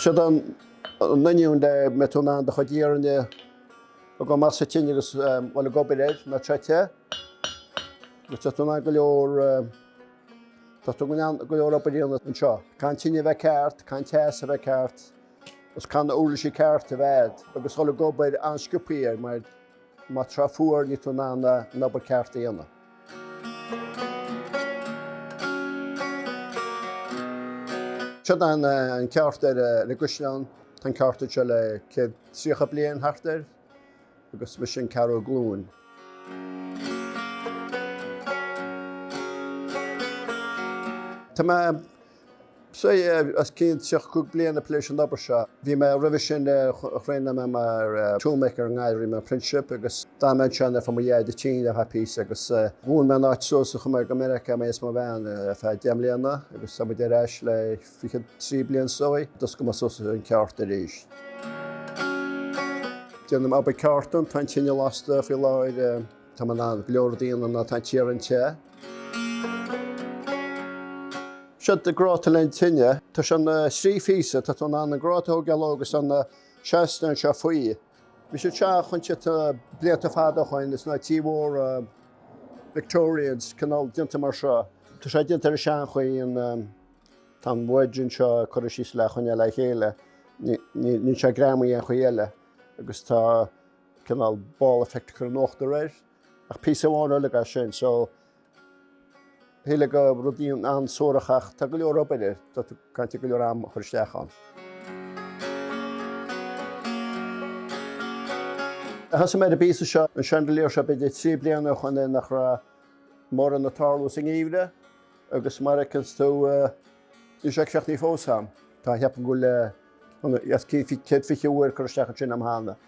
Seod an inneoin le mbeidh tú in ann do chuid iarainn a go maith sa tine agus dhul ag obair air nuair atá sé te. Agus tá tú in ann go leor tá tú in ann go leor obair a dhéanamh anseo. Caithfidh an tine a bheith ceart, caithfidh an teas a bheith ceart agus caithfidh na uirlisí cearta a bheith agat agus dhul ag obair an-sciobthaí air mar má tá sé fuar níl tú in ann an obair ceart a dhéanamh. Seod an ceárta ar an gCaisleán, tá an ceárta anseo le céad tríocha bliain thart air agus mise an ceathrú glúin. Tá mé Sea, os cionn 30 bliain ag plé leis an obair seo. Bhí mé roimhe sin thraenáil mé mar toolmaker i nGaillimh rinne mé apprenticeship agus d'fhan mé ansin ar feadh mo dheaide tinn ar feadh píosa agus dhún mé an áit suas agus chuaigh mé go Meiriceá, mé is mo bhean, ar feadh deich mbliana agus tá muid ar ais le fiche trí bliain seo is d'oscail mé suas an ceárta arís. Déanaim obair ceártan, tá an tine lasta faoi láthair. Tá mé in ann go leor a dhéanamh nuair atá an t-iarann te. Seod é gráta le haghaidh an tine. Tá sé ina thrí phíosa, tá tú in ann an gráta a thógáil agus an seastán anseo faoi. Bhí sé teach an te tá blianta fada ó shoin ins na tithe móra Victorians cineál déanta mar seo. Tá sé déanta ar an seanchaoi an tá an bhoird anseo curtha síos le é a choinneáil le chéile. Níl sé greamaithe aon chaoi eile agus tá. cineál ball effect curtha in uachtar air ach píosa amháin uilig é sin so shílfeá gur rud é an-suarach ach tá go leor obair air tá tú ag caint ar go leor am a chur isteach ann. Thosaigh mé ar an bpíosa seo an chandelier seo b'fhéidir trí bliana ó shoin nuair nach raibh mórán ag tarlú sa ngeimhreadh agus mar a fheiceanns tú níl sé críochnaithe fós a'm tá mé ag ceapadh go bhfuil céad fiche uair curtha isteach ansin a'm cheana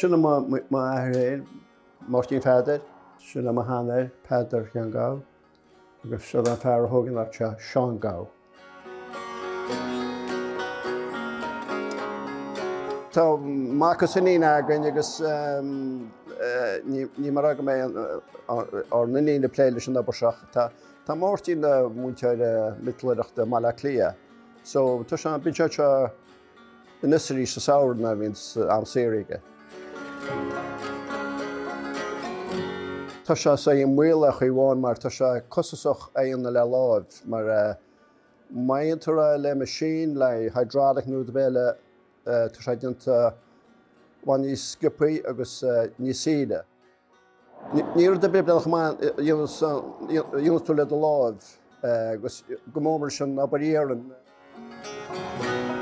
Sin é m'athair fhéin, Máirtín Pheadair, sin é mo shean-athair, Peadar Sheáin Gabha, agus seod é an fear a thóg an áit seo, Seán Gabha. Tá mac agus iníon againn agus níl mé ag rá go mbeidh ár n-iníon ag plé leis an obair seo ach tá Máirtín ina mhúinteoir miotalóireachta i mBaile Átha Cliath. So tá sé, bíonn sé anseo anois is arís sa samhradh nuair a bhíonn am saor aige. Tá sé sea i mbaol ar chaoi amháin mar tá sé costasach é a dhéanamh le láimh mar má dhéantar é le machine, le hydraulic nó rud ar bith eile tá sé déanta i bhfad níos sciobthaí agus níos saoire. Ní rud ar bith bréagach amháin a dhéanfas tú le do láimh, agus go mór mar sin ná bair iarraidh.